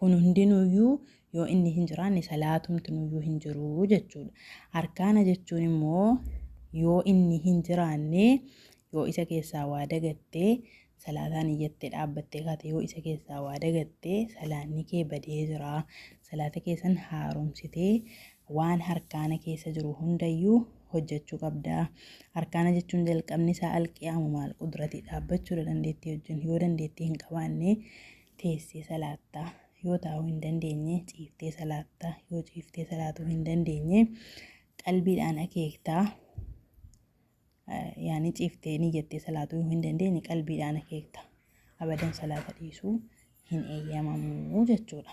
Kun hundinuyyuu yoo inni hin jiraanne salaatumtinuyyuu hin jiru jechuudha. Arkaana jechuun immoo yoo inni hin jiraanne yoo isa keessaa waa dagatte salaataan iyyattee dhaabbattee kaate yoo isa keessaa waa dagatte salaanni kee badee jira. Salaata kee san haaromsitee waan harkaana keessa jiru hundayyuu hojjechuu qabda. Harkaana jechuun jalqabni isaa alqiyaamu maal qudrati dhaabbachuudha dandeettii wajjin yoo dandeettii hin qabaanne teessee salaatta, yoo taa'uu hin dandeenye ciiftee salaatta, yoo ciiftee salaatuu hin dandeenye qalbiidhaan akeektaa yaani ciiftee ni jettee salaatuu hin dandeenye qalbiidhaan akeekta abadan salaata dhiisuu hin eeyyamamu jechuudha.